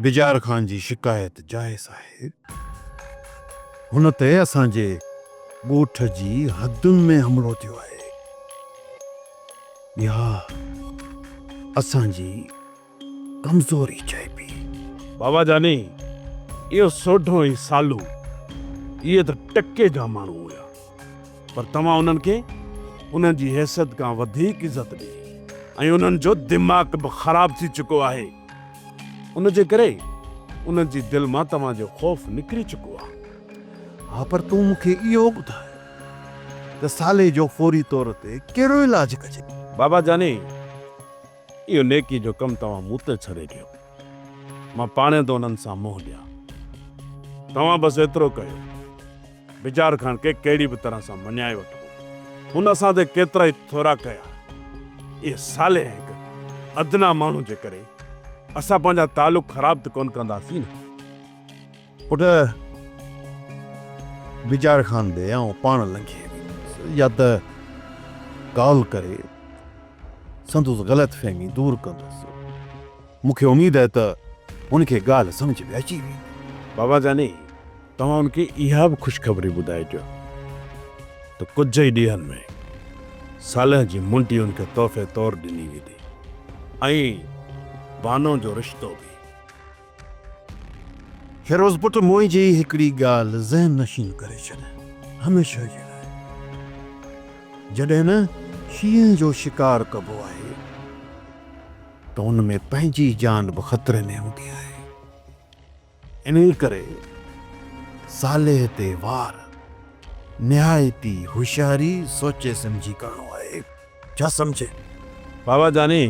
بجار خان جي شڪايت جائز آهي. هن تي اسان جي ڳوٺ جي حدن ۾ حملو ٿيو آهي. اها اسان جي ڪمزوري چئبي. بابا جاني، اهو سوڍو ۽ سالو، اهي ته ٽڪي جا ماڻهو هيا. پر توهان انهن کي انهن جي حيثيت کان وڌيڪ عزت ڏئي ۽ انهن جو دماغ به خراب ٿي چڪو آهي ان جي ڪري انهن جي دل مان توهان جو خوف نڪري چڪو آهي. ها پر تون مون کي اهو ٻڌاء ته سالي جو فوري طور تي ڪهڙو علاج ڪجي؟ بابا جاني اهو نيڪي جو ڪم توهان مون تي ڇڏي ڏيو. مان پاڻهين ٿو انهن سان منهن ڏيان. توهان بس ايترو ڪيو، بجار خان کي ڪهڙي به طرح سان مڃائي وٺبو. هن اسان تي ڪيترائي ٿورا ڪيا. اهي صالح ۽ هڪ ادنيٰ ماڻهو جي ڪري اسان پنهنجا تعلق خراب ته ڪونه ڪنداسين نه. پٽ! بجار خان ڏي آئون پاڻ لنگهي ويندس يا ته ڪال ڪري سندس غلط فهمي دور ڪندس. مون کي اميد آهي ته هن کي ڳالهه سمجهه ۾ اچي ويندي. بابا جاني! توهان هن کي اها به خوشخبري ٻڌائجو ته ڪجهه ئي ڏينهن ۾ صالح جي منڊي هن کي تحفي طور ڏني ويندي ۽ بانو جو رشتو به. فيروز پٽ منهنجي هڪڙي ڳالهه ذهن نشين ڪري ڇڏ هميشه جي لاء. جڏهن نه شينهن جو شڪار ڪبو آهي ته ان ۾ پنهنجي جان به خطري ۾ هوندي آهي. انهي ڪري صالح تي وار نهايت ئي هوشياري، سوچي سمجهي ڪرڻو آهي. ڇا سمجهين؟ بابا جاني،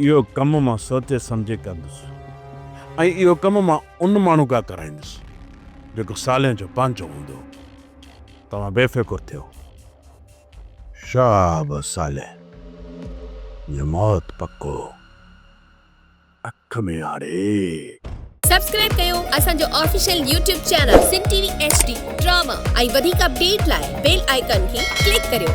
اهو ڪم مان سوچي سمجهي ڪندس ۽ اهو ڪم مان ان ماڻهو کان ڪرائيندس، جيڪو سالين جو پنهنجو هوندو. توهان بي فڪر ٿيو. شهاب صالح جو موت پڪو. اک ۾ آڙي. سبسڪرائب ڪيو اسان جو official YouTube channel Sindh T V H D drama ۽ وڌيڪ اپڊيٽ لاء بيل آئيڪان کي ڪلڪ ڪريو.